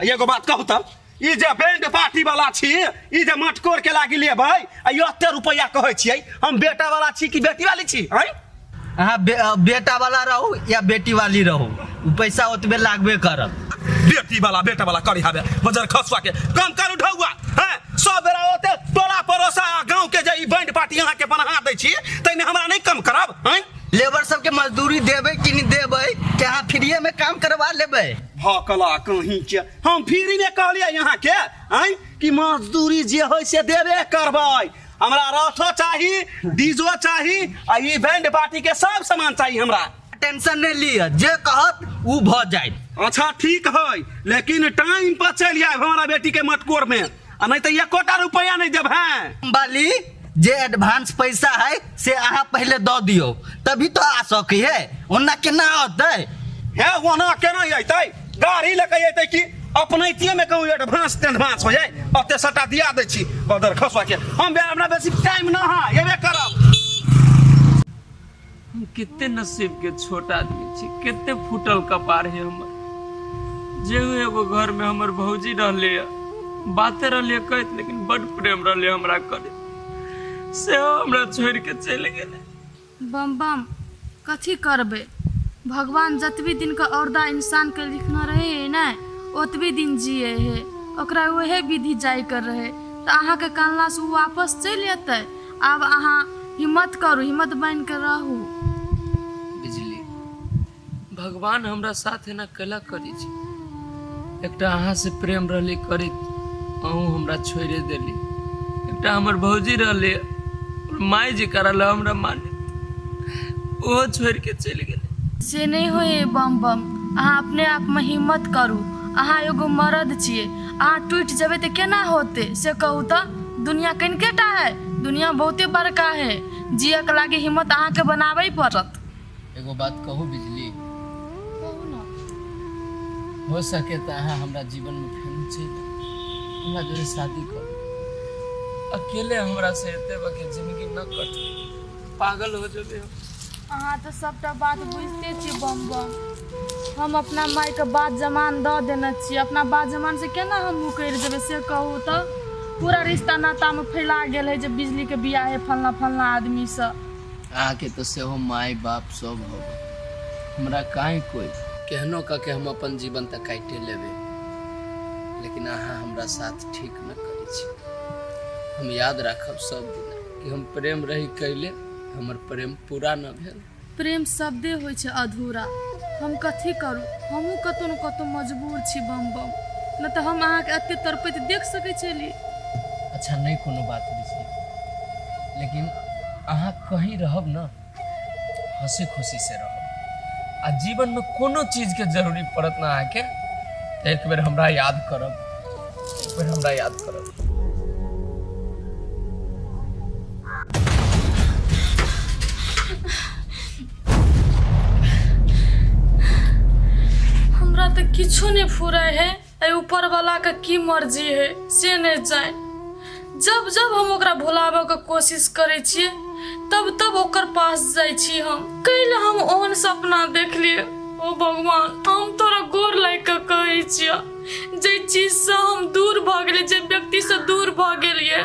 एगो बात कहू तब ई जे बैंड पार्टी वाला छी ई जे मटकोर के लागी लेबै आ ई एते रुपैया कहै छियै हम बेटा वाला छी कि बेटी वाली छी हैं अहाँ बे, अ, बेटा वाला रहू या बेटी वाली रहू उ पैसा ओतबे लागबे करत बेटी वाला बेटा वाला करी हबे बजर खसवा के कम कर उठौआ हैं सब बेरा ओते टोला पड़ोसा गांव के जे ई बैंड पार्टी अहाँ के बना दै छी तैने हमरा नहीं कम करब हैं लेबर सबके मजदूरी देबै कि नहि देबै कि अहाँ फ्रीएमे काम करबा लेबै भकला कहीं के हम फ्रीमे कहलियै अहाँके आँय कि मजदूरी जे होइ से देबे करबै हमरा रथो चाही डीजो चाही आ ई बैंड पार्टी के सब सामान चाही हमरा टेंशन नहि लिअ जे कहत ओ भऽ जायत अच्छा ठीक है लेकिन टाइम पर चलि आयब हमारा बेटी के मटकोर में आ नहीं तो एकोटा रुपया नहीं देब हैं बाली जे एडवांस पैसा है से अहाँ पहले दऽ दियौ तभी तो आ सकै है ओना केना औतै हे ओना केना अयतै गाड़ी लेके अयतै कि अपनैतिये में कहूँ एडवांस तेडवांस हो जाए ओते सटा दिया दै छी बदर खसुआ के हम बे- हमरा बेसी टाइम ना है एबे करब हम कितने नसीब के छोट आदमी छी कितने फूटल कपार है हमर जे हूँ एगो घर में हमर भौजी रहले है बाते रहले कहत लेकिन बड प्रेम रहले हमरा करे से हमरा छोड़ के चले गेले बम बम कथी करबै भगवान जतबी दिनके औरदा इंसानके लिखने रहै है ने ओतबी दिन जिए है ओकरा उहे विधि जाइके रहै तऽ अहाँके कानलासँ ओ वापस चलि अयतै आब अहाँ हिम्मत करू हिम्मत बनि कऽ रहू बिजली भगवान हमरा साथ एना कैला करै छी एकटा अहाँ से प्रेम रहले करैत अहूँ हमरा छोड़े देली एकटा हमर भौजी रहले और माय जी करल हमरा माने ओहो छोड़ के चलि गेलै से नहि होइए बम बम अहाँ अपने आपमे हिम्मत करू अहाँ एगो मरद छियै अहाँ टूटि जेबै तऽ केना होतै से कहू तऽ दुनिया कनिके टा है दुनिया बहुते बड़का है जियक लागी हिम्मत अहाँके बनाबै पड़त एगो बात कहू बिजली कहू ने हो सके तऽ अहाँ हमरा जीवनमे फेर चलि आउ। हमरा जरे शादी करू अकेले हमरा से एते बके जिंदगी न कटे पागल हो जेबे हम अहाँ तऽ सभटा बात बुझिते छी बम बम हम अपना मायके बात जमान दऽ देने छी अपना बात जमान से केना हम मुकरि देबै से कहू तऽ पूरा रिश्ता नातामे फैला गेल है जे बिजलीके बियाह है फलना फलना आदमीसँ अहाँके तऽ सेहो माय बाप सब हो हमरा काहे कोई केहनो कऽ के हम अपन जीवन तऽ काटे लेबै लेकिन अहाँ हमरा साथ ठीक न करै छी हम याद राखब सब दिन कि हम प्रेम रही कैले हमर प्रेम पूरा न भेल प्रेम शब्दे होइ छै अधूरा हम कथी करू हमहूँ कतहु ने कतहु मजबूर छी बम बम नहि तऽ हम अहाँके एतेक तड़पैत देख सकै छली अच्छा नहि कोनो बात विषय लेकिन अहाँ कहीं रहब ने हंसी खुशी से रहो आ जीवन में कोनो चीज के जरूरी पड़त ना आके तो एक बेर हमरा याद करब एक बेर हमरा याद करब हमरा तऽ किछो नहि फुराय है अरे ऊपर वाला के की मर्जी है से नहीं जाए जब जब हम ओकरा भुलाबे के कोशिश करे छिए तब तब ओकर पास जाए छी हम कैल हम ओहन सपना देख लिए ओ भगवान हम तोरा गोर लाग के कहे छिए जे चीज से हम दूर भागले जे व्यक्ति से दूर भागलिए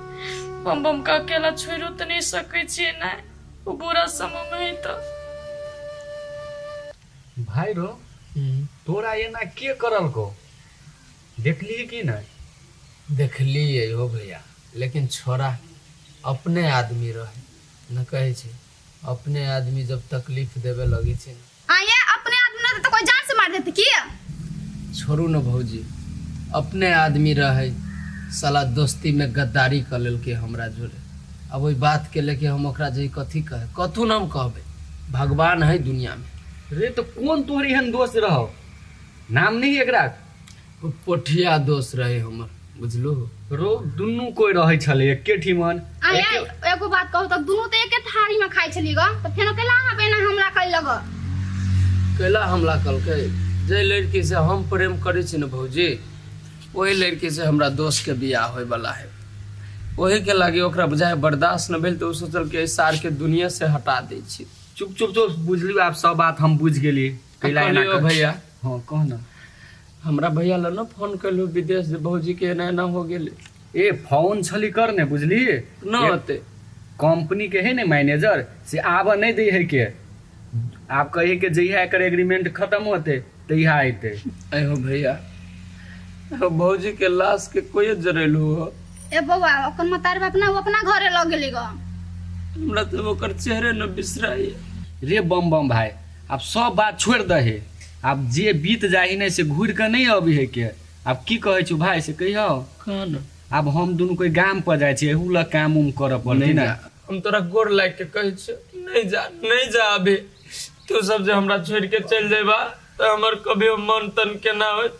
बम बम के अकेला छोड़ो तऽ नहि सकै छियै ने ओ बुरा समय मे है तऽ भाई रो तोरा एना के करल को देखली कि नहीं देखलिए हो भैया लेकिन छोरा अपने आदमी रहे न कहे छै अपने आदमी जब तकलीफ देवे लगे छै न आइए अपने आदमी रहते तो कोई जान से मार देते की छोड़ू न भौजी अपने आदमी रहे साला दोस्ती में गद्दारी कर लेलके हमरा जोरे अब ओहि बात के लेके हम ओकरा जे कथी कहे कथू न हम कहबे भगवान है दुनिया में रे तो कौन तोहर एहन दोस्त रहो नाम नहीं एकरा ओ पोठिया दोस्त रहे हमर बुझलू रो दुनू कोई रहे छले एके ठिमन आ यार एके- एगो बात कहू तऽ दुनू तऽ एके थारी में खाइ छलियै ग तऽ फेनो केला अहाँ पे एना हमला करि लग कैला हमला कलकै जे लड़की से हम प्रेम करै छी ने भौजी ओही लड़की से हमरा दोस्त के बियाह होय वाला है ओही के लागे ओकरा बुझाय बर्दाश्त न भेल तऽ ओ सोचल कि एहि सार के दुनिया से हटा दै छी चुप चुप चुप बुझलियो आप सब बात हम बुझ गेली कैला एना कहलियो कर- भैया हँ कह ने हमरा भैया लग ने फोन कैलू विदेश जे भौजी के एना एना हो गेलै ए फोन छली करने बुझली न ए, होते कंपनी के है ने मैनेजर से आब नहीं दे है के आप कहे के जहिया एकर एग्रीमेंट खत्म होते तहिया अते अहो भैया अहो भौजी के लाश के कोई जरेलू हो ए बौआ ओकर मतार बाप ना वो अपना घरे लग गेली गो हमरा तो ओकर चेहरे न बिसराइए रे बम बम भाई आब सब बात छोड़ि दहे आब जे बीत जाइ है ने से घूर के नहीं अबे है के आब की कहे छू भाई से कहियो कहन आब हम दुनू कोई गाम पर जाए छे एहू ल काम उम कर पड़ते ना हम तोरा गोर लाग के कहे छियो कि नहीं जा नहीं जा अभी तू सब जे हमरा छोड़ के चल जेबा तो हमर कभी मन तन के ना होत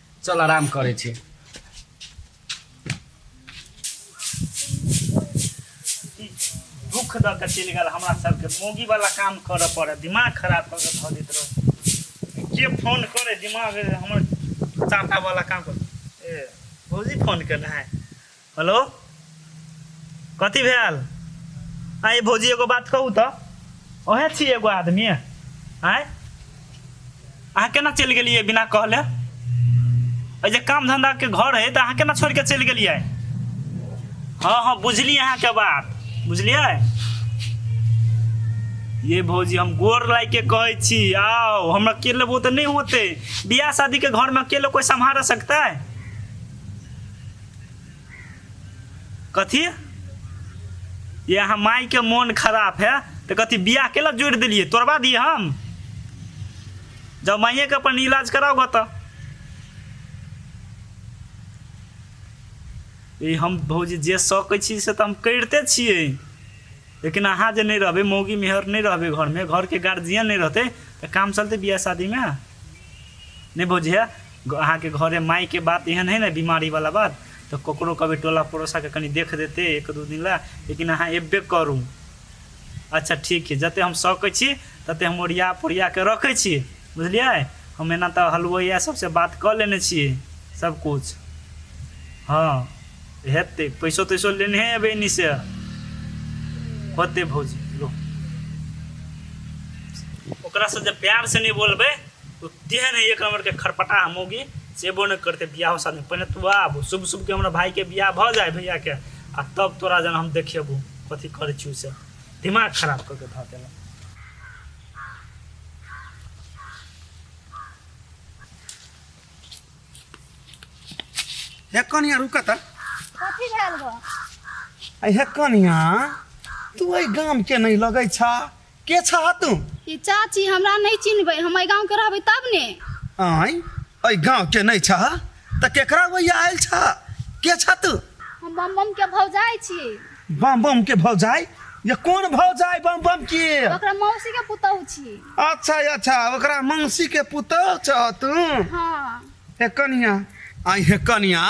चल आराम करै छी दुख दऽ कऽ चलि गेल हमरा सबके मोगी वाला काम करऽ पड़े दिमाग खराब कऽ कऽ धऽ दैत रहो के फोन करे दिमाग हमर चाटा वाला काम कर ए भौजी फोन केने है हेलो कथी भेल आइ भौजी एगो बात कहू तऽ ओहे छी एगो आदमी आँय अहाँ केना चलि गेलियै बिना कहले एहि जे काम धंधाके घर हइ तऽ अहाँ केना छोड़ि कऽ चलि गेलियै हँ हँ बुझलियै अहाँके बात बुझलियै ये भौजी हम गोर लाग के कहै छी आओ हम अकेले वो तऽ नहि होते बियाह शादी के घर में अकेले कोई संभाल सकता है कथी ये अहाँ मायके मोन खराब है तऽ कथी बियाह केला जोड़ि देलियै तोड़बा दियै हम जब माइएके अपन इलाज कराउ गे तऽ ई हम भौजी जे सकै छी से तऽ हम करिते छियै लेकिन अहाँ जे नहि रहबै मौगी मेहर नहि रहबै घरमे घरके गार्जियन नहि रहतै तऽ काम चलतै बियाह शादीमे नहि भौजी हे अहा के घरे माई के बात एहन है ना बीमारी वाला बात तो ककरो कभी टोला पड़ोसा के कनी देख देते एक दू दिन ला लेकिन अहाँ एबे करू अच्छा ठीक है जते हम सकै छी तते हम ओरिया पोरिया के रखे छी बुझलिए हम एना तो हलवैया सबसे बात कर लेने छी सब कुछ हाँ हेतै पैसो तैसो लेने है अब एनी से होते भौजी लो ओकरा से जब प्यार से नहीं बोलबे तो तेहन है एक नंबर के खरपटा मोगी से एबो नहीं करते बियाह शादी पहले तू आब शुभ शुभ के हमारा भाई के बियाह भ जाए भैया के आ तब तोरा जन हम देखेबू कथी करे छी से दिमाग खराब करके धऽ देला हे कनिया रुका त कथी भेल गो अरे हे कनिया तू एहि गाम के नहीं लगै छा के छह तू ई चाची हमरा नहीं चिन्हबै हम एहि गाँव के रहबै तब ने आय एहि गाँव के नहीं छह तऽ केकरा वैया आयल छह के छह तू हम बम बम के भौजाई छी बम बम के भौजाई ये कोन भौजाई बम बम के ओकरा मौसी के पुतहु छी अच्छा अच्छा ओकरा मंसी के पुतोह छह तू हाँ हे कनिया आई हे कनिया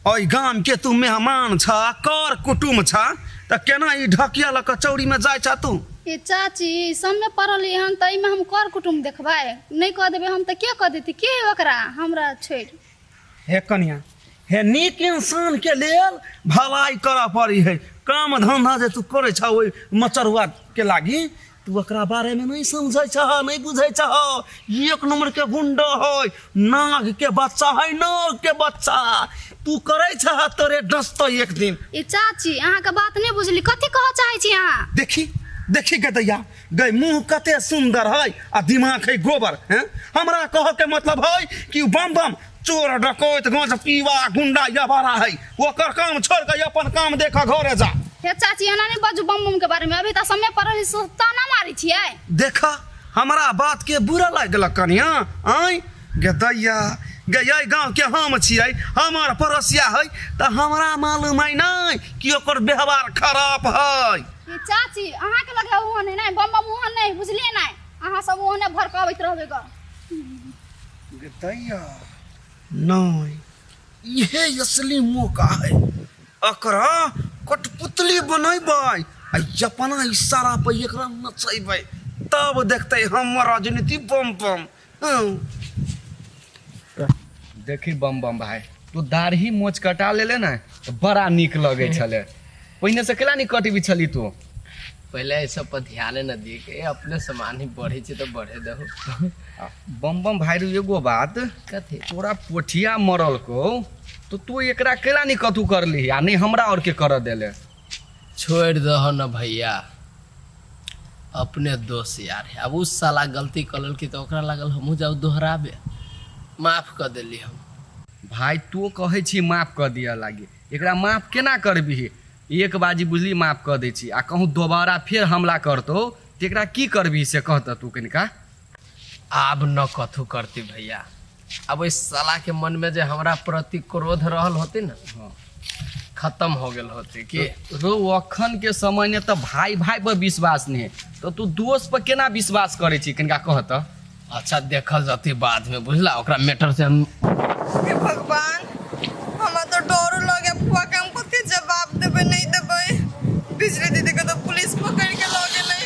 ओहि गाम के तू मेहमान छ कर कुटुम छ त केना ई ढकिया ल कचौड़ी में जाय छ तू ए चाची सबमे पड़ल हन त एहिमे हम कर कुटुम देखबै नहि कह देबै हम त के कह देती के ओकरा हमरा छोड़ हे कनिया हे नीक इंसान के लेल भलाई करऽ पड़ी है काम धंधा जे तू करे छ ओहि मचरुआ के लागी तू एकरा बारे में नहीं समझे छह नहीं बुझे छह एक नंबर के गुंडा है नाग के बच्चा है नाग के बच्चा तू करे छह तोरे डसतो एक दिन ए चाची अहाँके बात नहि बुझली कथी कहऽ चाहै छी अहाँ देखी देखी गदैया गै मुंह कते सुंदर है आ दिमाग है गोबर हैं हमरा कह के मतलब है कि उ बम बम चोर डकैत गाँच पीवा गुंडा या बारा है ओकर काम छोड़ के अपन काम देख घरे जा हे चाची एना नहीं बाजू बम बम के बारे में अभी तो समय पर रही सो ताना मारी छिए देखा हमरा बात के बुरा लग गेल कनिया आय गे दैया गे ये गाँव के हम छियै हमर पड़ोसिया है तो हमरा मालूम है नहीं कि ओकर व्यवहार खराब है हे चाची अहाँ के लगे ओहन है नहीं बम बम ओहन नहीं बुझलिए नहीं अहाँ सब ओहने भड़कावैत रहबे ग गतैया नहि इहे असली मौका है एकरा कठपुतली बनेबै आ अपना इशारा पर एकरा नचेबै तब देखते हमर राजनीति बम बम हँ। देखी बम बम भाय तू दाढ़ी मोच कटा लेले ने तो बड़ा नीक लगे छले पहिने से केला नी कटबी छली तू पहिले एहि सब पर ध्यान न दिए के अपने सामान ही बढ़े छै तऽ बढ़े दहो बम बम भाई रे एगो बात कथी तोरा पोठिया मरल को तो तू एकरा केला नहीं कतू कर ली आ नहीं हमरा और के कर देले छोड़ दह न भैया अपने दोस्त यार है अब उस साला गलती कलल की तो ओकरा लागल हमहूँ जाऊ दोहराबे माफ कर देली हम भाई तू कहे छी माफ कर दिया लागे एकरा माफ केना करबी एक बाजी बुझली माफ कर दै छी आ कहूँ दोबारा फिर हमला करतो तो एकरा की करबी से कहत तू कनिका आब न कथू करती भैया अब इस साला के मन में जे हमरा प्रति क्रोध रहल होती ना हाँ। खत्म हो गेल होती कि रो अखन के समय ने तो भाई भाई पर विश्वास नहीं है तो तू दोस्त पर केना विश्वास करे छी कनिका कह तो अच्छा देखल जती बाद में बुझला ओकरा मैटर से हम हे भगवान हमरा तो डरो लगे फुआ के हम कते जवाब देबे नहीं देबे बिजली दीदी के तो पुलिस पकड़ के लगे नहीं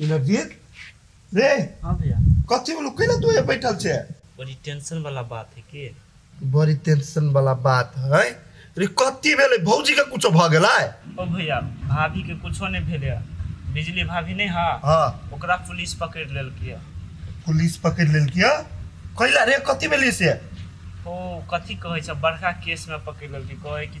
ई नवदीप रे हाँ भैया कथी बोलू कैला तू ये बैठल छे बड़ी टेंशन वाला बात है के बड़ी टेंशन वाला बात है रे कथी भेले भौजी के कुछो भ गेला ओ भैया भाभी के कुछो नहीं भेले है। बिजली भाभी नहीं हा हां ओकरा पुलिस पकड़ लेलकै है। पुलिस पकड़ लेलकिया कैला रे कथी भेले से ओ कथी कहै छै बड़का केस में पकड़ लेलकै कहै कि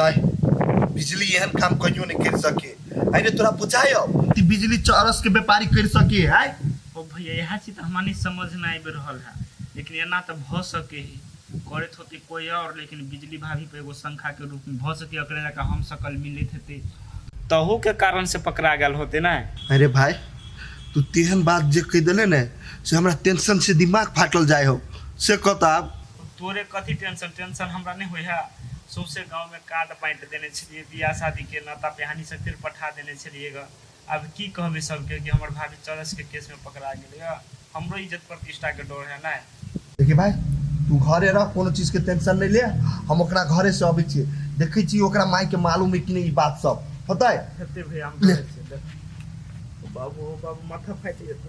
नहीं बिजली एहन काम कहियो नहीं कर सके अरे तोरा बुझाय कि बिजली चरस के व्यापारी कर सके है ओ भैया यह चीज तो हमारे समझ में आबि रहल है लेकिन एना तो भ सके है करत होते कोई और लेकिन बिजली भाभी पे एगो शंखा के रूप में भ सके एकरे जाके हम सकल मिलित हेते तहू के कारण से पकड़ा गल होते ना अरे भाई तू तेहन बात जे कह दिले ने से हमरा टेंशन से दिमाग फाटल जाय हो से कहता तोरे कथी टेंशन? टेंशन हमरा नै होइए। सौंसे गाँवमे कार्ड बाँटि देने छेलिऐ। बिआह-शादीके नाता-पिहानी सब फेर पठा देने छेलिऐ गऽ। आब की कहबै सबके कि हमर भाभी चरसके केसमे पकड़ा गेलै गऽ। हमरो इज्जत-प्रतिष्ठाके डर हए ने। देखी भाय, तूँ घरे रह, कोनो चीजके टेंशन नै ले। हम ओकरा घरेसँ अबै छिऐ। देखै छिऐ ओकरा माइके मालूम हए कि नै ई बात सब। होतै? हेतै भैया, हम देखै छिऐ। ले। ओ बाबू, ओ बाबू, माथा फाटि जेतौ।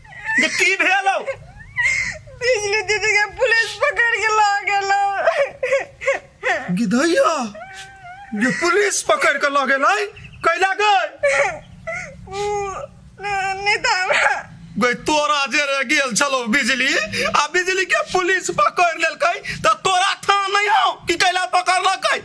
जे की भेल हौ बिजली दीदी के पुलिस पकड़ के ला गेलो गिधैया जे पुलिस पकड़ के लऽ गेल है कैला गए ऊ न- नहीं था हमरा गई तोरा जे रे गेल छलो बिजली आ बिजली के पुलिस पकड़ लेलकै त तोरा थान नहीं हौ कि कैला पकड़लकै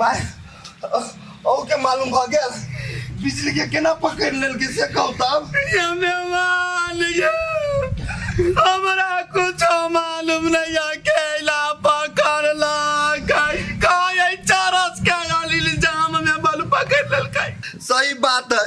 माय ओ के मालूम भ गेल बिजली के केना पकड़ लेल के से कहू तब ये मेहमान ये हमरा कुछ मालूम नहीं है कैला पकड़ला कई कई चरस के अली जाम में बल पकड़ लेलकै सही बात है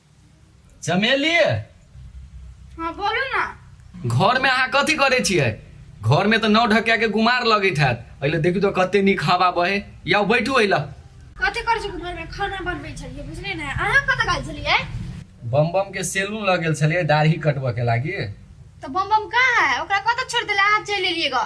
चमेली हाँ बोलू ना घर में अहाँ कथी करे छियै घर में तो नौ ढकिया के गुमार लगैत हैत अइले देखू तो कते नीक हवा बहे या बैठू अइला कथी करै छी घर में खाना बनबै छलियै बुझलियै ने अहाँ कतऽ गेल छलियै बम बम के सैलून लग गेल छलियै दाढ़ी कटबऽ के लागी तऽ बम बम कहाँ है ओकरा कतऽ छोड़ि देले अहाँ चलि एलियै ग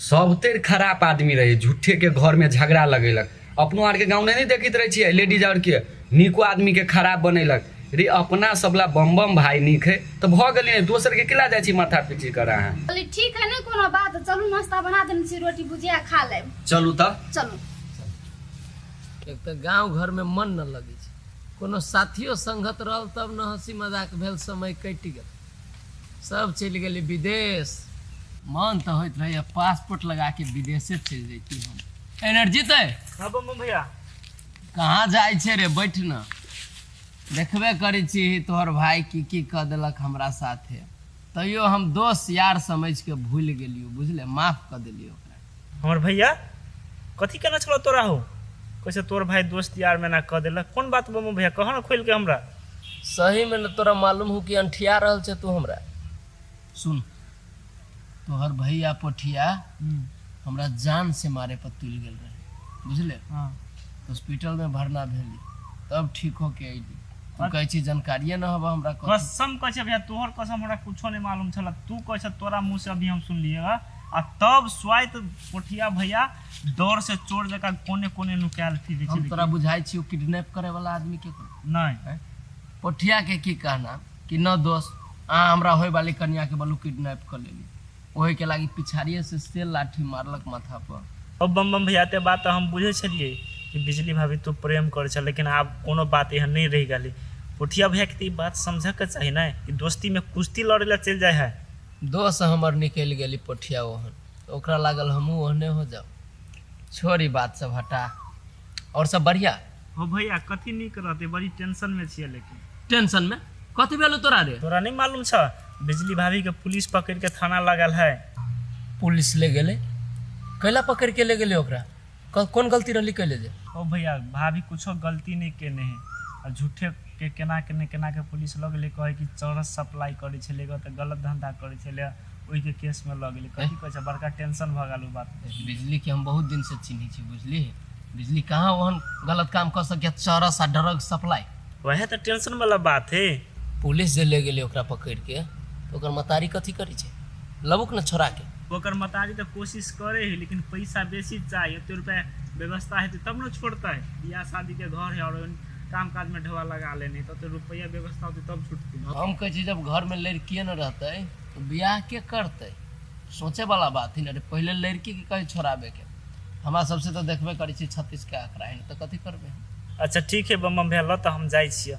सभतरि खराप आदमी रहै झूठेके घरमे झगड़ा लगेलक अपनो आरके गाँव नहि ने देखैत रहै छियै लेडीज आरके नीको आदमीके खराब बनेलक रे अपना सबला बम बम भाय नीक है तऽ भऽ गेलै ने दोसरके किला जाइ छी माथा पीची कर अहाँ बोली ठीक है नहीं कोनो बात चलू नाश्ता बना देने छी रोटी भुजिया खा लेब चलू तऽ चलू एक तऽ गाँव घरमे मन न लगै छै कोनो साथियो संगत रहल तब न हँसी मजाक भेल समय कटि गेल सब चलि गेलै विदेश मन तऽ होइत रहैए पासपोर्ट लगा के विदेशे चलि जैती हम एनर्जी तऽ हाँ बम बम भैया कहाँ जाइ छै रे बैठ न देखबे करै छी तोहर भाय की की कऽ देलक हमरा साथे तैयो हम दोस्त यार समझि के भूलि गेलियो बुझले माफ कऽ देलियो ओकरा हमर भैया कथी केना छलो तोरा हो कैसे तोर भाई दोस्त यार में ना कह दिल कौन बात बमू भैया कह ना खोल के हमरा सही में न तोरा मालूम हो कि अंठिया रहल छे तू हमरा सुन तोहर भैया पोठिया हमरा जान से मारे पर तुल गेल रहे बुझले हाँ हॉस्पिटल में भरना भेली तब ठीक होके अइली तू अरे- कहै छी जानकारिए न हवा हमरा कथी कसम कह भैया तोहर कसम हमरा कुछो नहीं मालूम छला तू कह तोरा मुंह से अभी हम सुनलिए आ तब स्वाइत कोठिया भैया डर से चोर जका कोने कोने नुकायल फिरे हम छलै तोरा बुझाई छियो किडनैप करे वाला आदमी के नहीं पोठिया के की कहना कि न दोस्त अहाँ हमरा होय वाली कन्या के बलू किडनैप कर लेली ओहि के लागी पिछाड़िए से सेल लाठी मारलक माथा पर अब बम बम भैया ते बात हम बुझे छलिए कि बिजली भाभी तो प्रेम करे छल लेकिन आब कोनो बात एहन नहीं रह गई पोठिया भैया के तो ई बात समझे के चाहिए ना कि दोस्ती में कुश्ती लड़े ला चल जाए है दोह से हमर निकलि गेल ई पोठिया ओहन तऽ ओकरा लागल हमहूँ ओहने हो जाउ छोड़ ई बात सब हटा आओर सब बढ़िया हो भैया कथी नीक रहते बड़ी टेंशन में छिए लेकिन टेंशन में कथी भेलौ तोरा रे तोरा नहीं मालूम छ बिजली भाभी के पुलिस पकड़ के थाना लगल है पुलिस ले गेलै कैला पकड़ के ले गेलै ओकरा कल कौन गलती रहली कैले जे ओ भैया भाभी कुछो गलती नहीं केने है आ झूठे के केना केने केना के पुलिस लग ले कहे कि चरस सप्लाई करे छे लेगा तो गलत धंधा करे छे ले ओई के केस में लग ले कथी कहे छे बड़का टेंशन भ गेल उ बात पे। बिजली के हम बहुत दिन से चिन्ही छी बुझली बिजली कहाँ ओहन गलत काम कर सके चरस आ ड्रग सप्लाई वह तो टेंशन वाला बात है पुलिस जे ले गेले ओकरा पकड़ के तो ओकर मतारी कथी करी छे लबुक न छोड़ा के ओकर मतारी तऽ कोशिश करे है लेकिन पैसा बेसी चाही एते रुपया व्यवस्था हेतै तब ने छोड़तै बियाह शादी के घर है और काम काज में ढवा लगा लेने तो रुपया व्यवस्था होते तब छुटते हम कहे छी जब घर में लड़किए न रहते तो बियाह के करते सोचे वाला बात ही ना पहले लड़की के कहीं छोड़ाबे के हमरा सबसे तो देखबे करे छी छत्तीस के आंकड़ा है तो कथी करबे अच्छा ठीक है बम बम भेल तो हम जाय छियै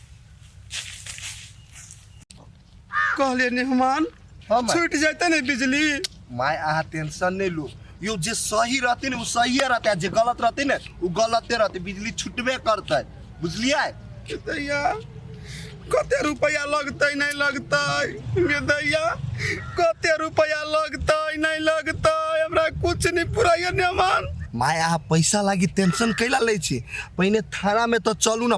कहले नेहमान हाँ, माई। छूट जाते नहीं बिजली माय अहाँ टेंशन नहीं लो यो जे सही रहते ने वो सही रहते आ जे गलत रहते ने वो गलते रहते बिजली छुटबे करते बुझलिए दैया कते रुपया लगतै नहीं लगतै गे दैया कते रुपया लगतै नहीं लगतै हमरा कुछ नहीं पुराइए नेहमान माय अहाँ पैसा लागी टेंशन कैला लै छी पहिने थाना में तो चलू ना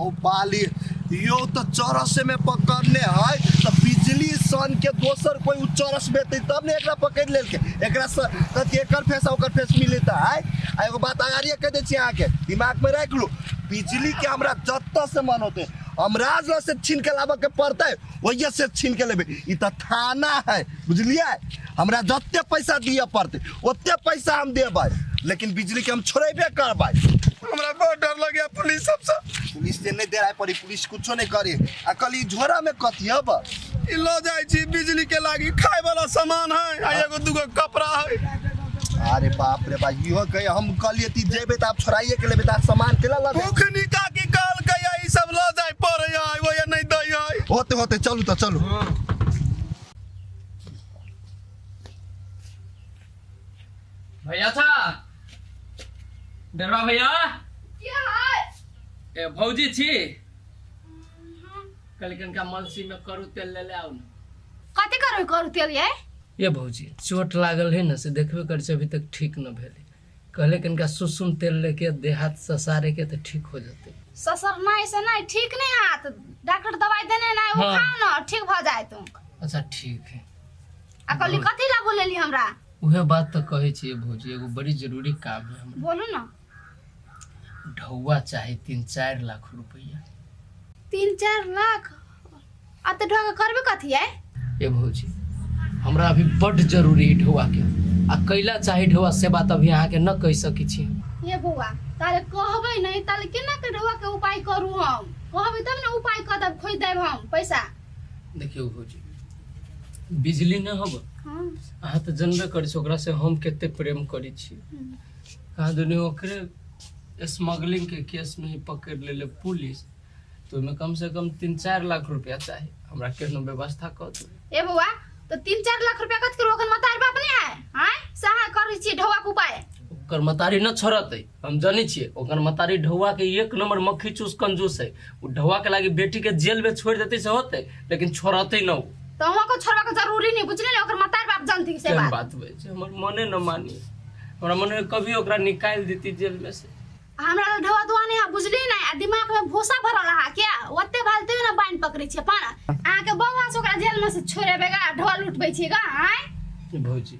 ओ बाली यो तो चरस में पकड़ने है तो बिजली सन के दोसर कोई उ चरस बेते तब ने एकरा पकड़ लेल के एकरा से कथी एकर फेस आ ओकर फेस मिलता है आ एगो बात आगारिया कह दे छी अहाँ के दिमाग में रख लू बिजली के हमरा जत्ता से मन होते हम राज से छीन के लाबे के पड़ते वजह से छीन के लेबे ई तो थाना है बुझलिए हमरा जते पैसा दिए पड़ते ओते पैसा हम देबै लेकिन बिजली के हम छोड़ेबे करबै हमरा बहुत डर लगे पुलिस सबसे पुलिस से नहीं देराय पड़ी पुलिस कुछो नहीं करे आ कल ई झोरा में कथी हब ई लो जाय छी बिजली के लागी खाए वाला सामान है आ एगो दूगो कपड़ा है अरे बाप रे बाप इहो कहे हम कहलिए ती जेबे त आप छोड़ाइए के लेबे त आप सामान केला लगे भूख निका की काल कया ई सब लो जाय पड़े आइबो या नहीं दई है होते होते चलू तो चलू भैया था डरवा भैया क्या है ए भौजी छी कल कनका मलसी में करू तेल ले ले आउ न कथी करबै करू तेल ये ये भौजी चोट लागल है न से देखबे कर छै अभी तक ठीक न भेलै कहले कि इनका सुसुम तेल लेके देहात ससारे के तो ठीक हो जाते ससर नहीं से नहीं ठीक नहीं हाथ डॉक्टर दवाई देने नहीं वो हाँ। खाओ ना ठीक भ जाए तुम अच्छा ठीक है आ कहली कथी ला बोलेली हमरा उहे बात तो कहे छिए भौजी एगो बड़ी जरूरी काम है हमरा बोलू ना ढौआ चाहे तीन चार लाख रुपया तीन चार लाख आ तऽ ढोके करबे कथी है ए भौजी हमरा अभी बड जरूरी है ढोआ के आ कैला चाहे ढोआ से बात अभी अहाँ के न कह सकी छी ये बौआ तारे कहबै नहीं ताले केना के ढोआ के उपाय करू हम कहबै तब ने उपाय कर देब खोज देब हम पैसा देखियो भौजी बिजली न हब हाँ अहाँ तऽ जनबे करी छी ओकरा से हम कते प्रेम करी छी हम्म। कहाँ दुनी ओकरे स्मगलिंग के केस में ही पकड़ लेले पुलिस तो ओहिमे कम से कम तीन चार लाख रुपया चाही हमरा केहनो व्यवस्था कर दू ए बौआ तो तीन चार लाख रुपया कत करू ओखन मतार बाप नहीं आए आए सहा कर छी ढवा के उपाय ओकर मतारी न छोड़त है हम जानी छिए ओकर मतारी ढौआ के एक नंबर मक्खी चूस कंजूस है उ ढौआ के लागी बेटी के जेल में छोड़ देते से होते लेकिन छोड़ते न उ तो हम को छोड़वा के जरूरी नहीं बुझले ले ओकर मतार बाप जानती से बात बात हुए हमर मने न मानी हमरा मने कभी ओकरा निकाल देती जेल में से हमरा लग ढवतुआ नहीं है बुझली नहीं आ दिमाग में भूसा भरल है क्या ओते भालते ना बाइन पकड़े छे पर अहाँ के बौआ से ओकरा जेल में से छोड़ेबेगा ढोल उठबे छेगा आय भौजी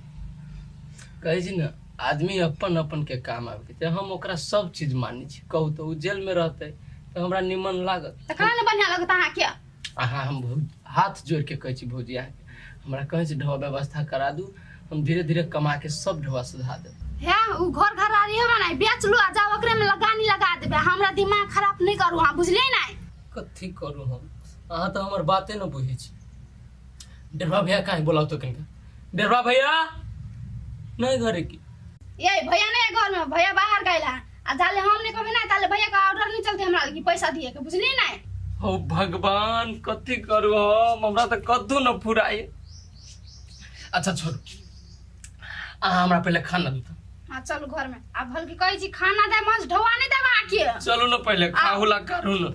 कहै छी ने आदमी अपन अपन के काम आबे छै हम ओकरा सब चीज मानै छी कहू तऽ ओ जेल में रहतै तऽ हमरा निमन लागत त कहाँ ने बढ़िया लगता अहाँ के अहाँ हम भौ- हाथ जोड़ के कहै छी भौजी अहाँ के। हमरा कहै छी ढोआ व्यवस्था करा दू हम धीरे धीरे कमा के सब ढोआ सुधा देब हे उ घर घरारी है ना बेच लो आ जाओ ओकरे में लगानी लगा देबे हमरा दिमाग खराब नहीं करू हाँ बुझले ना कथी करू हम अहाँ तो हमर बाते न बुझै छी डेढ़वा भैया काहे बोलाउ तो कहीं डेढ़वा भैया नहीं घरे की ये भैया नहीं है घर में भैया बाहर गए आ जाले हम नहीं कहबे ना ताले भैया का ऑर्डर नहीं चलते हमरा लगी पैसा दिए के बुझली ना हो भगवान कथी करू हम हमरा तऽ कद्दू न फुराए अच्छा छोड़ू अहाँ हमरा पहिले खाना दू तऽ। हाँ चलू घर में आ भल की कहे छी खाना दे मज ढोआ नहीं देवा आके चलू न पहिले खाहू ला करू न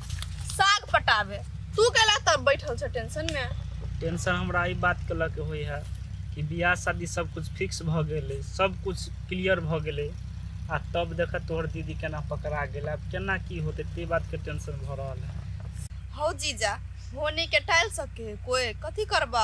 साग पटाबे तू कैला तब बैठल छ टेंशन में टेंशन हमरा ई बात के लके होई है कि बियाह शादी सब कुछ फिक्स भ गेले सब कुछ क्लियर भ गेले आ तब देख तोहर दीदी केना पकड़ा गेल अब केना की होते ते बात के टेंशन भ रहल है हौ जीजा होने के टाइल सके कोई कथी करबा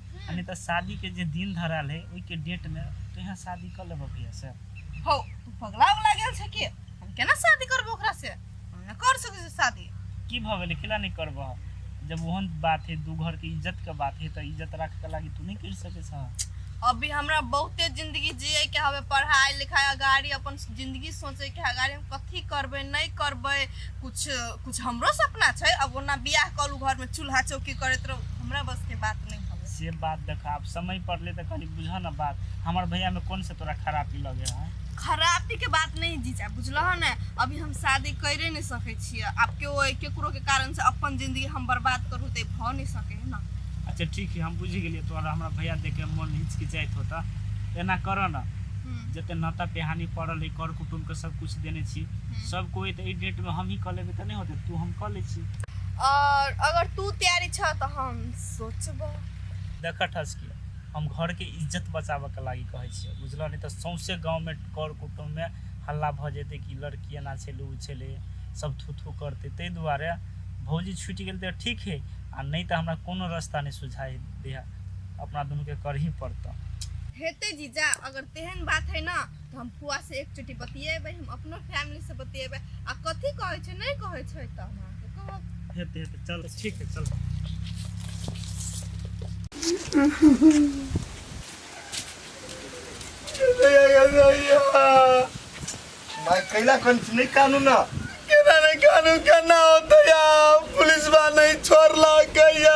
आ नहीं तो शादी के जे दिन धराल है ओई के डेट में तो यहाँ शादी कर लेबो भैया से हो तू पगला उगला गेल छै कि हम केना शादी करबो ओकरा से हम न कर सकै छी शादी की भ गेलै केला नहीं करबो जब ओहन बात है दू घर के इज्जत के बात है तो इज्जत रख के लागी तू नहीं कर सके छ अभी हमरा बहुते जिंदगी जिए के हवे पढ़ाई लिखाई अगाड़ी अपन जिंदगी सोचे के अगाड़ी कथी करबै नहि करबै किछु किछु हमरो सपना छै अब ओना बियाह कऽ लू घरमे चूल्हा चौकी करैत रहू हमरा बसके बात नहि हवे से बात देखा अब समय पड़ले तो कनी बुझा ना बात हमार भैया में कौन से तोरा खराबी लगे है खराबी के बात नहीं जीजा बुझलह ने अभी हम शादी करे नहीं सके छियै आब केओ केकरो के कारण से अपन जिंदगी हम बर्बाद करू ते भऽ नहीं सके है ना अच्छा ठीक है हम बुझ गेलिए तोरा हमारा भैया देख के मन हिचकिचाइत होता एना करो ना हम्म। जते नाता पेहानी पड़ल है कर कुटुम तो सब कुछ देने छी हम्म। सब कोई तो डेट में हम ही कर लेबे तो नहीं होते तू हम कर ले छी और अगर तू तैयारी छ तो हम सोचबो देखा ठस के हम घर के इज्जत बचाबे के लागी कहे छी बुझल नहीं तो सौंसे गांव में कर कुटुंब में हल्ला भ जेते कि लड़की एना छेले उ छेले सब थू थू करते ते दुआरे भौजी छूट गेल तो ठीक है आ नहीं तो हमरा कोनो रास्ता नहीं सुझाई दे अपना दुनू के कर ही पड़ता हेते जीजा अगर तेहन बात है ना तऽ हम फुआ से एक चोटी बतियेबै हम अपनो फैमिली से बतियेबै आ कथी कहै छै नहि कहै छै तऽ हम अहाँके कहब हेतै हेतै चल ठीक है चल मैं कैला कौन नहीं कानू ना केना ने कानू केना होतै या पुलिस बा नहीं छोड़ला कैया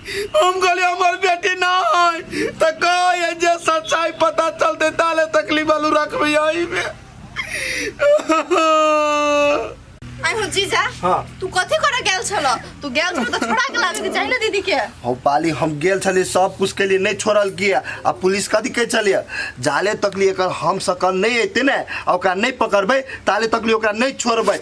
हम कहली हमर बेटी ना है तो कहो ये जे सच्चाई पता चलते ताले तकलीफ आलू रखबे यही में आई हो जीजा हाँ। तू कथी करे गेल छल तू गेल छल तो छोड़ा के लागे के चाही ना दीदी के हम पाली हम गेल छलिए सब कुछ के लिए नहीं छोड़ल किया आ पुलिस कथी कहे छलिए जाले तक लिए एकर हम सकल नहीं अते ने आ ओकरा नहीं पकड़बै ताले तक लिए ओकरा नहीं छोड़बै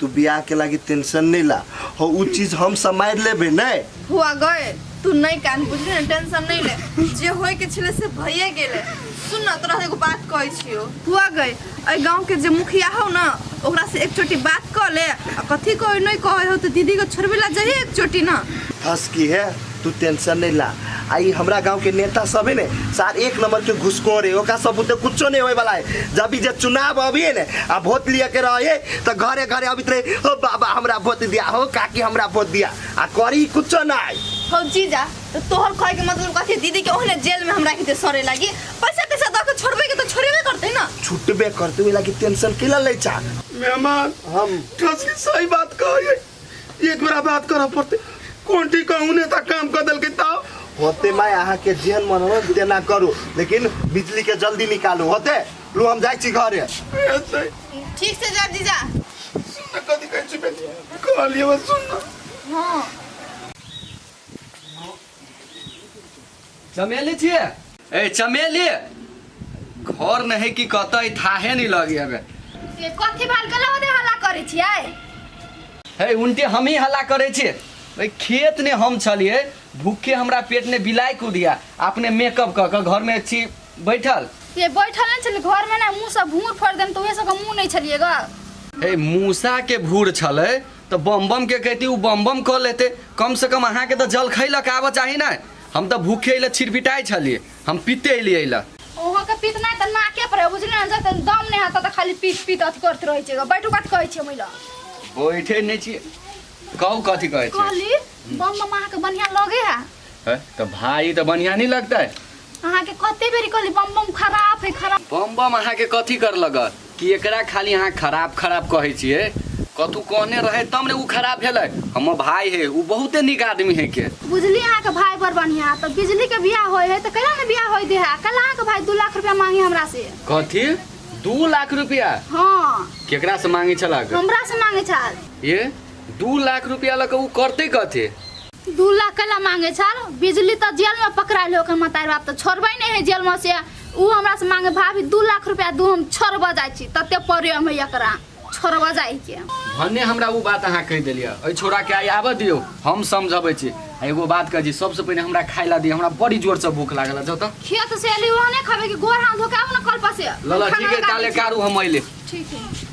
तू बियाह के लागी टेंशन नहीं ला हो उ चीज हम समार लेबे नहीं हुआ गए तू नहीं कान बुझले ना टेंशन नहीं ले जे होय के छले से भइए गेले सुन ना तोरा एगो बात कहै छियो हुआ गए ए गांव के जे मुखिया हो ना ओकरा से एक चोटी बात कर ले आ कथी कहै नहीं कहै हो तो दीदी को छोड़बे ला जाइए एक चोटी ना फंस की है तू टेंशन नहीं ला आई हमरा गांव के नेता सब है ने सार एक नंबर के घुसखोर है ओका सब बुते कुछो नहीं होए वाला है जब भी जे चुनाव अभी है ने आ वोट लिए के रहे तो घरे घरे अभी रहे हो बाबा हमरा वोट दिया हो काकी हमरा वोट दिया आ करी कुछो नहीं हो जीजा तो तोहर कहे के मतलब कथी दीदी के ओहने जेल में हमरा के सरे लागी पैसा पैसा दऽ के छोड़बे के तो छोड़बे करते ना छुटबे करते हुए लागी टेंशन के ला ले चा मेहमान हम कसम सही बात कहो ये एक बेरा बात करऽ पड़ते कोन ठीक कहूँ नेता काम कर देलकै तब होते मैं अहाँ के जेहन मन हो तेना करू लेकिन बिजली के जल्दी निकालू होते लो हम जाइ छी घरे ऐसे ठीक से जा जीजा सुन कथी कहै छी बेटी कहलिए बस सुन हाँ चमेली छिए ए चमेली घर नहीं कि कतई थाहे नहीं लगी हमें से कथी भाल के लगे हल्ला करे छियै हे उनके हम ही हल्ला करे छे ओइ खेत ने हम छलिए भूखे हमरा पेट ने बिलाई कूदिया अपने मेकअप क के घर में छी बैठल से बैठल नहीं छलै घर में ना मुंह से भूर फोड़ देन तो उहे सब के मुंह नहीं छलिए ग हे मूसा के भूर छले तऽ बम बम के कहती उ बम बम कऽ लेते कम से कम अहाँ के तऽ जल खैलऽ के आबऽ चाही ना हम तऽ भूखे अइले छिरपिटाई छलिए हम पीते अइलिए अइले ओहो के पीत नहीं तऽ नाके पर है, बुझली ना जब तक दम नहीं आता तऽ खाली पीत पीत अथी करते रहे छे बैठू कथी कहै छे महिला बैठे नहीं छी कहू कथी कहै छी कहली बम बम अहाँ के बढ़िया लगे है है तो भाई तो बढ़िया नहीं लगता है अहाँ के कते बेरी कहली बम बम खराब है खराब बम बम अहाँ के कथी कर लग कि एकरा खाली अहाँ खराब खराब कहै छिए कथू कहने रहे तब ने उ खराब भेलै हमर भाई है उ बहुते नीक आदमी है के बुझली अहाँ के भाई बड़ बढ़िया तो बिजली के बियाह होय है तो कहिया ने बियाह होय दे है कल अहाँ के भाई दू लाख रुपया मांगे हमरा से कथी दू लाख रुपया हाँ केकरा से मांगे छलक हमरा से मांगे छल ये दू लाख रुपया लऽ कऽ उ करते कथे दू लाख कैला मांगे छल बिजली तऽ जेल में पकड़ाइल हो ओकर मतारी बाप तऽ छोड़बै नहि है जेल में से ऊ हमरा से मांगे भाभी दू लाख रुपया दू हम छोड़बऽ जाइ छी तते प्रेम है एकरा छोड़बऽ जाइ के भन्ने हमरा ऊ बात अहाँ कहि देलियै एहि छोराके आइ आबऽ दियौ हम समझबै छी आ एगो बात कहै छी सबसँ पहिने हमरा खाय ला दियौ हमरा बड़ी जोरसँ भूख लागल है, जाउ तऽ खेत से एली वहाँ नहीं खाबे कि गोर हाथ धोके आबू ना कल पर से लऽ लऽ खाना ठीक है निकालै काले छी। कारू हम अइले ठीक है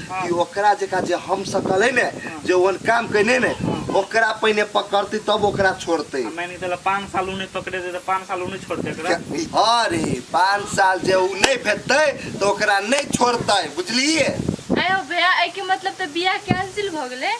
कि ओकरा जकाँ जे हम सकल है ने जे ओहन काम कयने ने ओकरा पहिने पकड़तै तब ओकरा छोड़तै आ मानि के चलऽ पाँच साल ऊ नहि पकड़े दे तऽ पाँच साल ऊ नहि छोड़ते एकरा हँ रे पाँच साल जे ऊ नहि भेटतै तऽ ओकरा नहि छोड़तै बुझलिही आयो भैया एहिके मतलब तऽ बियाह कैंसिल भऽ गेलै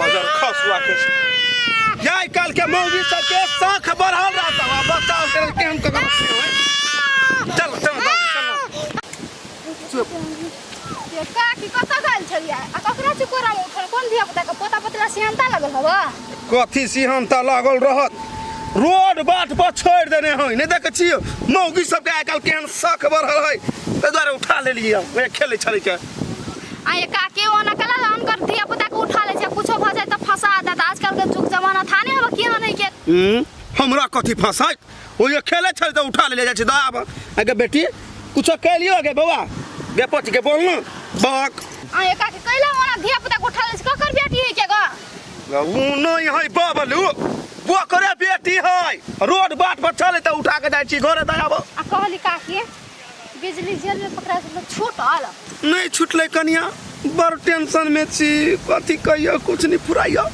बजर खसुआ के जाय काल के मौगी सब के साख बढ़ल रहता है बच्चा से के हम ककर चल चल चल ये का की कत गल छलिया आ ककरा से कोरा में उठल कोन धिया पुता के पोता पोतला सियानता लगल हवा कथी सिहन त लागल रहत रोड बाट पर छोड़ देने है नहीं देखे छियो मौगी सब के आइ काल केहन शक बढ़ल है ताहि दुआरे उठा लेलियै हम ओहे खेलै छलै के आ ये का के ओना कला अनकर धिया पुता के उठा ले छै कुछो भ जाय त फंसा देत आजकल के जुग जमाना था ने हम किया नहीं के हम्म, हमरा कथी फंसाइत ओ ये खेले छल तो उठा ले जाए दा आब अगे बेटी कुछो कह लियो गे बौआ गे पच के बोल ना बक आ ये का के कैला ओना धिया पुता के उठा ले छै ककर बेटी है के ग ऊ नहीं है बाबलू वो करे बेटी है रोड बाट पर चले तो उठा के जाए छी घरे दा आब आ कहली का के बिजली जेल में पकड़ा के लोग छूटल नहीं छुटले कनिया बड़ टेंशन में छी कथी कहियो कुछ नहीं फुराइयो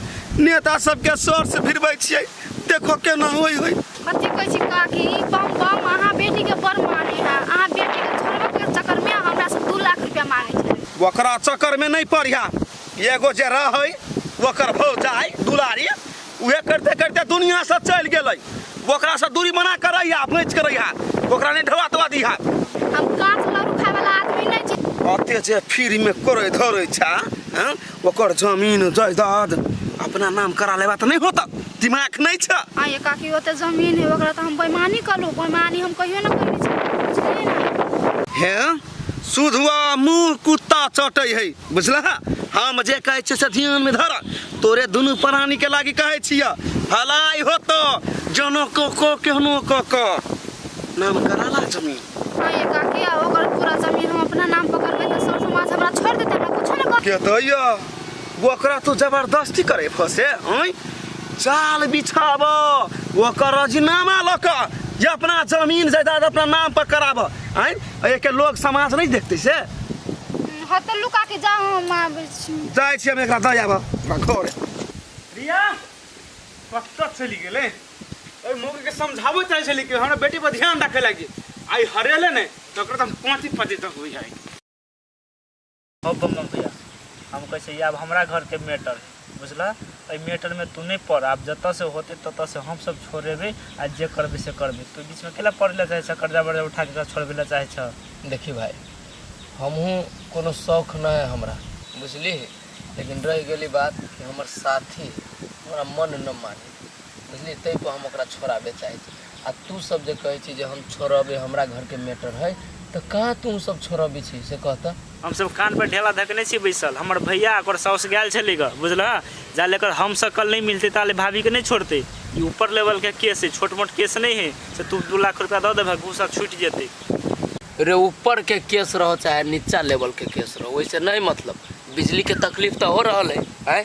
नेता सबके सर से भिड़बै छियै देखो केना होई होई कथी कहै छी काकी ई बम बम अहाँ बेटी के बड़ माने है अहाँ बेटी के छोड़बे के चक्कर में हमरा से दू लाख रुपया मांगे छै ओकरा चक्कर में नहीं पड़िया एगो जे रहै ओकर भौजाई दुलारी उहे करते करते दुनिया से चल गेलै ओकरा से दूरी मना करै या अपने करै हा ओकरा ने ढवा तवा दी हा हम काठ लरू खाए वाला आदमी नहीं छी अते जे फ्री में करै धरै छा हैं? ओकर जमीन जायदाद अपना नाम करा लेबा त नहीं होता दिमाग नहीं छ आ ये काकी ओते जमीन है ओकरा तो हम बेईमानी कलू बेईमानी हम कहियो ना कइले छी बुझलिए ना हैं सुधुआ मुंह कुत्ता चटै है बुझला हम जे कहै छियै से ध्यान में धर तोरे दुनू प्राणी के लागी कहै छिय भलाई होतो जनो को को केहनो को को नाम कराला जमीन हाँ ये काकी आ ओकर पूरा जमीन हम अपना नाम पर करबे तो सर समाज हमरा छोड़ देते हमरा कुछ ना कर के दैया ओकरा तो जबरदस्ती करे फसे हैं चाल बिछाब ओकर राजीनामा लऽ कऽ या अपना जमीन जायदाद अपना नाम पर कराब हैं अरे के लोग समाज नहीं देखते से हतल लुका के जाओ हम आबै छी जाय छी हम एकरा दऽ आबऽ हमरा घर रिया कतऽ चलि गेलै ओहि मौके के समझाबो चाहै छली कि हमरा बेटी पर ध्यान राखे लागी आई हरेले ने तऽ ओकरा तऽ हम पाँति पाँति तक बुझाइ हो बमबम भैया हम कहै छै आब हमरा घरके मैटर है बुझला एहि मैटरमे तू नहि पड़ आब जतऽसँ होतै ततऽसँ हमसब छोड़ेबै आ जे करबै से करबै तू बीचमे केला पड़ै लए चाहै छह कर्जा वर्जा उठा कऽ छोड़बै लए चाहै छह देखी भाय हमहूँ कोनो शौक नहि है हमरा बुझली लेकिन रहि गेली बात कि हमर साथी है हमरा मन न मानी बुझली ताहि पर हम ओकरा छोड़ाबे चाहै छी आ तू सब जे कहे छी जे हम छोड़ब ये हमरा घर के मैटर है तो कहाँ तू सब छोड़बी छी से कहता हम सब कान पर ढेला धकने छी बैसल हमर भैया आ ओकर साउस गेल छलै ग बुझलह जा लेकर हम सब कल नहीं मिलते ताले भाभी के नहीं छोड़ते ई ऊपर लेवल के केस है छोट मोट केस नहीं है से तू दू लाख रुपया दऽ देबह घूसा छूट जेतै रे ऊपर के केस रहो चाहे नीचा लेवल के केस रहो वैसे नहीं मतलब बिजली के तकलीफ तो हो रहल है हैं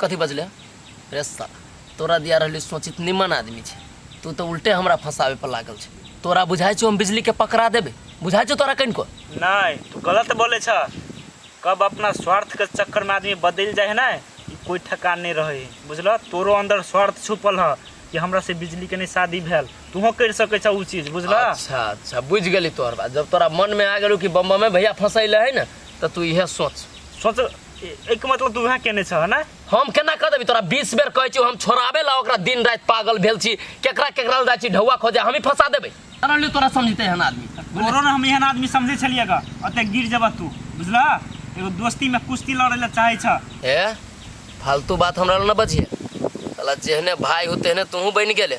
कथी बजले रे साला तोरा दिया रहली सोचित निमन आदमी छै तू तो उल्टे हमरा फंसावे पर लागल छै तोरा बुझाई छौ हम बिजली के पकड़ा देबे बुझाई छौ तोरा कनिको नहीं तू गलत बोले छ कब अपना स्वार्थ के चक्कर में आदमी बदल जाए है ना ई कोई ठेकान नहीं रहे है बुझल तोरो अंदर स्वार्थ छुपल है कि हमरा से बिजली के नहीं शादी भेल तूहो कर सके छ उ चीज बुझल अच्छा अच्छा बुझ गेली तोहर बात जब तोरा मन में आ गेलू कि बम्बा में भैया फंसैले है ना तो तू इहे सोच सोच एहिके मतलब तू उहे केने छह ना हम केना कह देबी तोरा बीस बेर कहै छी हम छोड़ाबे ला ओकरा दिन राति पागल भेल छी केकरा केकरा लग जाइ छी ढौआ खोजे हमही फंसा देबै तोरा लिए तोरा समझते हन आदमी तोरो ने हम एहन आदमी समझै छलियै ग ओते गिर जेबह तू बुझलह एगो दोस्ती में कुश्ती लड़ै लए चाहै छह ए फालतू बात हमरा लग न बजिए साला जेहने भाय हो तेहने तूहू बनि गेले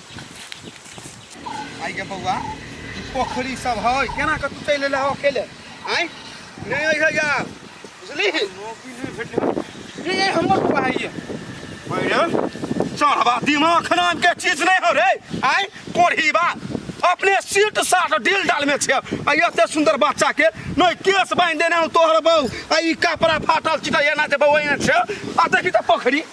आइ गे बौआ ई पोखरी सब है केना के तू चलि एले हो अकेले आइ नहीं अइहे यार बुझली नौकरी नहीं भेटले ये ये हमर बौआ है ये भैया चढ़वा दिमाग खराब के चीज नहीं हो रे आइ कोढ़ी बा अपने सीट साट डील डाल में छे आ ये एते सुंदर बच्चा के नहीं केस बांध देने हूं तोहर बहू आ ई कपड़ा फाटल चिटा एना जे बहू एने छे आ देखी त पोखरी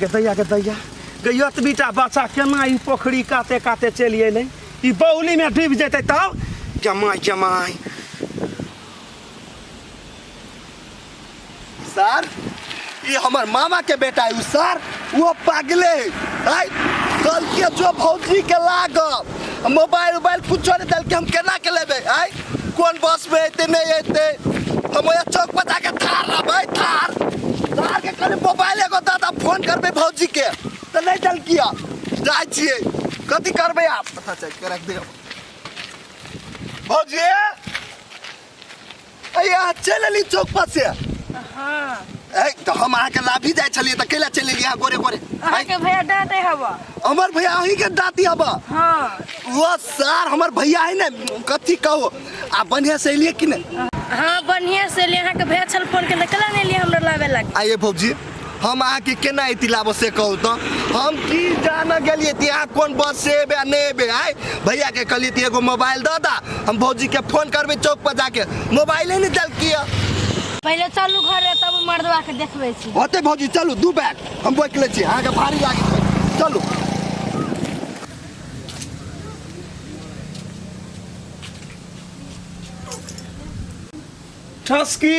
गदैया गदैया गैया तऽ बेटा बच्चा केना ई पोखरी काते काते चलि अयलै ई बौलीमे डूबि जेतै तब जमाय जमाय सर ई हमर मामा के बेटा है सर वो पागले है कल के जो भौजी के लागब मोबाइल उबाइल कुछो नहीं दिल के हम केना के लेबे आय कौन बस में एते नहीं एते हम ओए चौक पर जाके थार रहबै थार थार के कने मोबाइल एगो दादा फोन करबे भौजी के तो नहीं दिल किया जाय छिए कथी करबे आप पता चल के रख दे भौजी अरे अहाँ चलि अली चौक पर से हाँ ऐ तऽ हम अहाँके लाभी जाइ छलियै तऽ कैला चलि अलियै अहाँ गोरे गोरे अहाँ के भैया डांटे हवा हमर भैया अहीं के दाती हब हाँ वो सार हमर भैया है ने कथी कहो आ बढ़िया से अलियै कि ने हाँ बढ़िया से ले अहाँ के भैया छल फोन के निकला नहीं लिए हमरा लावे लगे आइए भौजी हम अहाँ के केना इति लाबो से कहू तो हम की जान गेलिए ती अहाँ कोन बस से एबे आ नहीं एबे आय भैया के कहलिए ती एगो मोबाइल दऽ दा हम भौजी के फोन करबे चौक पर जाके मोबाइले नहीं देलकिए पहिले चलू घरे तब मर्दवा के देखबै छी होते भौजी चलू दू बैग हम बैठ ले छी अहाँ के भारी लागै छै चलू ठसकी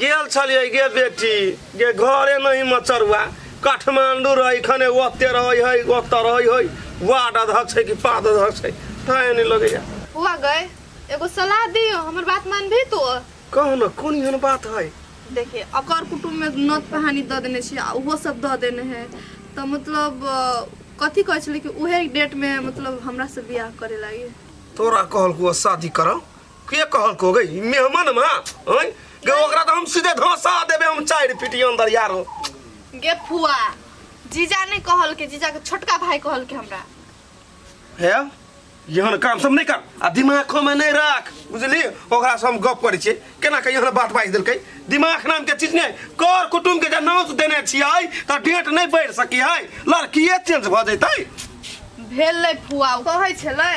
गेल छलिए गे बेटी गे घरे नहीं मचरुआ काठमांडू रही खने ओते रही है ओते रही है वार्ड अध्यक्ष है कि पाद अध्यक्ष है ताए नहीं लगे जा हुआ गए एगो सलाह दियो हमर बात मान भी तो कहो ना कौन एहन बात है देखिए अकर कुटुम में नोत पहानी द देने छी आ उहो सब द देने है तो मतलब अ, कथी कहै छलै कि उहे डेट में मतलब हमरा से बियाह करे लागी तोरा कहल को शादी करो के कहल को गई मेहमान मा ओए गे ओकरा तो हम सीधे धोसा देबे हम चार पीटी अंदर यार हो गे फुआ जीजा ने कहल के जीजा के छोटका भाई कहल के हमरा हे यहन काम सब नहीं कर आ दिमाग खो में नहीं रख बुझली ओकरा से हम गप करै छियै केना के यहन बात बाजि देलकै दिमाग नाम के चीज नहीं कर कुटुम के जे नौत देने छियै तऽ डेट नहीं बढ़ि सकी है लड़किए चेंज भऽ जैतै भेल लै फुआ ओ कहै छलै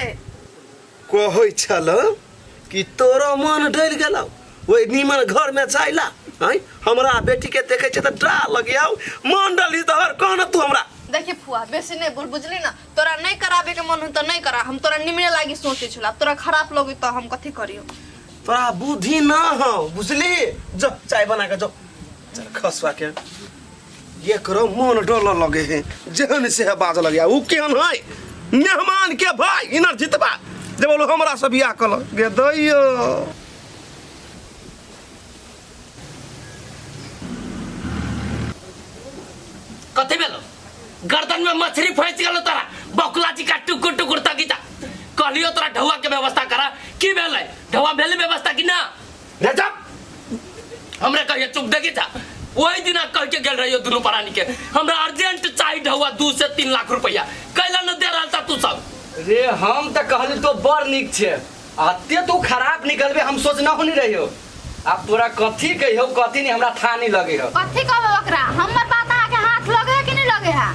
कहै छलौ कि तोरो मन डरि गेलौ ओहि नीमन घर में जाइला आँय हमरा बेटी के देखे छै तऽ डा लगियौ मन डली तोहर कह न तू हमरा देखी फुआ बेसी नहीं बोल बुझली ना तोरा नहीं कराबे के मन हो तो नहीं करा हम तोरा निमने लागी सोचे छला अब तोरा खराब लगे तो हम कथी करियो तोरा बुद्धि ना हो बुझली जो चाय बना के जो चल खसवा के ये करो मन डोल लगे है जहन से है बाज लगे उ केहन है मेहमान के भाई इनर जितबा जे बोलो हमरा से बियाह कल गे दैयो कथी भेलो गर्दन में मछली फंस गेलो तोरा बकुला जी का टुकुर टुकुर तकिता कहलियो तोरा ढौआ के व्यवस्था करा की भेलै ढौआ भेलै व्यवस्था कि ना रे जा हमरा कहिए चुप देखी था वही दिना कह के गेल रहियो दुनू परानी के हमरा अर्जेंट चाही ढौआ दू से तीन लाख रुपया कैला न दे रहल था तू सब रे हम तऽ कहली तो बड़ नीक छै आ ते तू खराब निकलबे हम सोचना हो नहीं रहियो आब तोरा कथी कहियो कथी नहीं हमरा था नहीं लगे हो कथी कहबै ओकरा हमर बात अहाँके हाथ लगे है कि नहि लगे है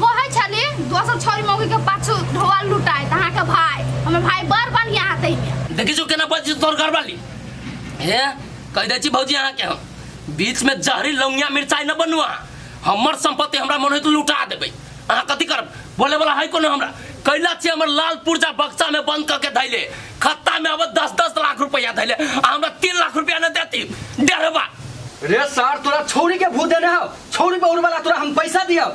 कहै छली दोसर छोरी मौगी के पाछू ढोआ लुटाइत अहाँके भाय हमर भाय बड़ बढ़िया हाथ है देखी जो केना बजी तोर घर वाली हे कह दे छी भौजी अहाँ के हम बीच में जहरी लौंगिया मिर्चाई न बनुआ हमर संपत्ति हमरा मन होइत लुटा देबै अहाँ कथी करब बोले वाला है कोनो हमरा कैला छी हमर लाल पुर्जा बक्सा में बंद करके धैले खत्ता में अब दस दस लाख रुपया धैले आ हमरा तीन लाख रुपया न देती डेढ़वा रे सार तोरा छौरी के भूत देने हो छौरी बहुर वाला तोरा हम पैसा दियो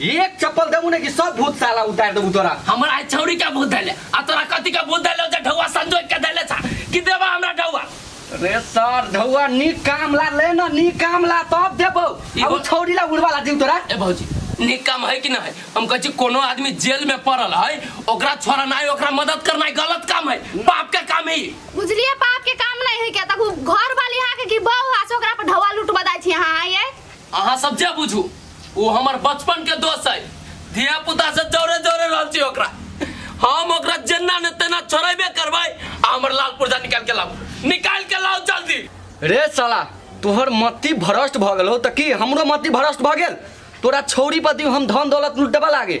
एक चप्पल देबू ने कि सब भूत साला उतार देबू तोरा हमर आइ छौरी के भूत देले आ तोरा कथी के भूत देले जे ढौआ संजोग के देले छा कि देबा हमरा ढौआ रे सर ढौआ नीक काम ला ले ना नीक काम ला तब देबो ई अब बो- छौरी ला उड़वा ला दीम तोरा ए भौजी नीक काम है कि ना है हम कहै छी कोनो आदमी जेल में पड़ल है ओकरा छोड़नाइ ओकरा मदद करनाइ गलत काम है पाप के काम है ई। बुझलिए पाप के काम नहीं है क्या तक घर वाली यहाँ के की बहू आ से ओकरा पर ढवा लूट बदाई छी यहाँ आइए अहाँ सब जे बुझू ओ हमर बचपन के दोस्त है धिया पुता से जोरे जोरे रहल छी ओकरा हम ओकरा जेना ने तेना छोड़ेबे करबै आ हमर लाल पुर्जा निकाल के लाओ निकाल के लाओ जल्दी रे साला तोहर मति भ्रष्ट भऽ गेल हो तऽ की हमरो मति भ्रष्ट भऽ गेल तोरा छौरी पति हम धन दौलत लुटबऽ लागे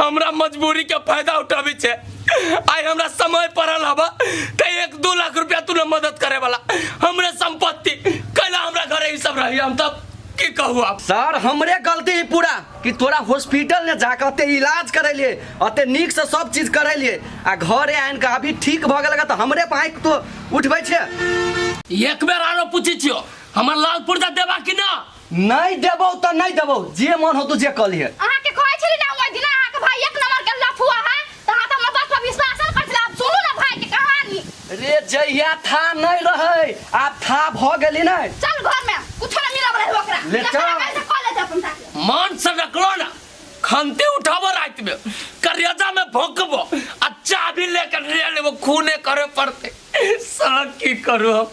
हमरा मजबूरी के फायदा उठाबी छे आइ हमरा समय पड़ल हबा ते एक दू लाख रुपया तू ने मदद करे वाला हमरे संपत्ति कैला हमरा घरे ई सब रही हम तब की कहू आप सर हमरे गलती है पूरा कि तोरा हॉस्पिटल ने जाकर अते इलाज करैलिए अते नीक से सब चीज करैलिए आ घरे आइन के अभी ठीक भ गेल त हमरे पाए तो उठबै छे एक बेर आरो पूछी छियो हमर लाल पुर्जा देबा कि ना नहीं देबो तो नहीं देबो जे मन हो तू जे कल है अहाँ के कहै छली ना ओइ दिन अहाँ के भाई एक नंबर के लफुआ है त अहाँ त हमर बात पर विश्वास न करथिन आब सुनू ना भाई के कहानी रे जहिया था नहीं रहे आब था भ गेली नहीं चल घर में कुछ न मिलब रहे ओकरा ले जकरा चल। कहै छै कॉलेज अपन साथे मान से रखलो ना खंती उठाबो रात में करेजा में भोंकबो आ चाबी लेकर ले लेबो खूने करे पड़ते सड़क की करू हम